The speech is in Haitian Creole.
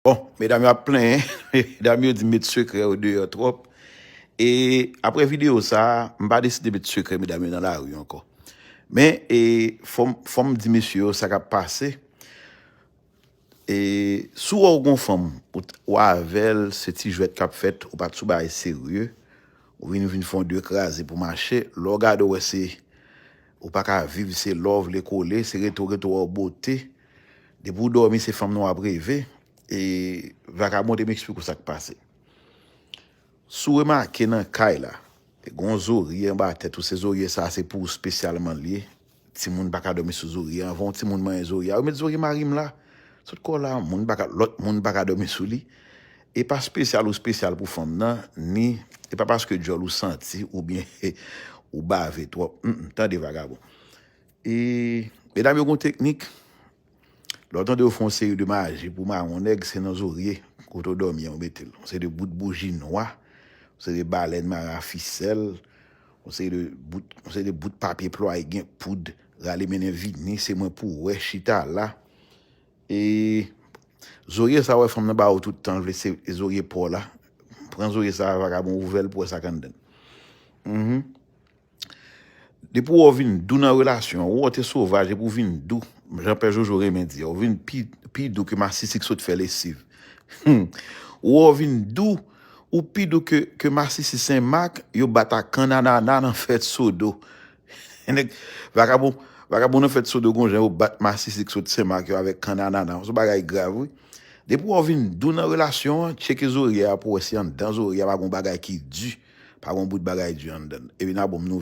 Bon, medam yo ap plenyen, medam yo di met sekrè yo deyò twòp, e apre videyo sa, m pa deside met sekrè medam yo nan lari ankò. Men, e fò m fò m di mesye yo sa k ap pase, e si w wè w gen yon fanm, ou t ou avè l, se ti jwèt k ap fèt, ou pa t sou bagay serye, ou vin vin fè yon de kraze pou mache, lè w gade w wè se ou pa ka viv se love le kole, se rete w rete w an bote, Depi ou domi se fanm nan wap reve e vakabon te m explike w sak pase. Si w remake nan kay la gon zorye anba tèt ou se zorye sa se pou ou spesyalman li ye timoun paka domi sou zorye a anvan yon timoun manyen zorye a yo met zorye mari m la sot kò la moun paka lòt moun paka domi sou li e pa spesyal ou spesyal pou fanm nan ni e pa paske dyòl ou santi oubyen ou bave twòp humm tande vakabon. E medam yo gon teknik. Lè w tande yo fè yon seri de maji pou mawon nèg, se nan zorye kote w dòmi an yo mete l. Yon seri de bout bouji nwa, yon seri de balèn mare a fisèl, yon seri de bout, yon seri de bout papye plwaye gen poud, rale mennen vini, se mwen pou w wè, chita la. E zorye sa w wè fanm nan ba ou tout tan, l vle se zorye pa w la. Pran zorye sa a vagabon ouvè l pou w wè sa k anndan l. Mh. Depi wè w vin dou nan relasyon an, ou te sovaj epi w vin dou, jan Pè Jojo renmen di a, ou vin pi dou ke masisi ki sot fè lesiv. Ou wè w vin dou, ou pi dou ke masisi Sen Mak yo bat ak kann anana nan fèt Sodo. Nèg vakabon, vakabon nan fèt Sodo gon jan yo bat masisi ki sot Sen Mak yo avèk kann anana. Son bagay grav wi. Depi wè w vin dou nan relasyon an, tcheke zorye a pou wè si anndan zorye a pa gen yon bagay ki di, pa gen yon bout bagay di anndan l. Epi n a bon m nou.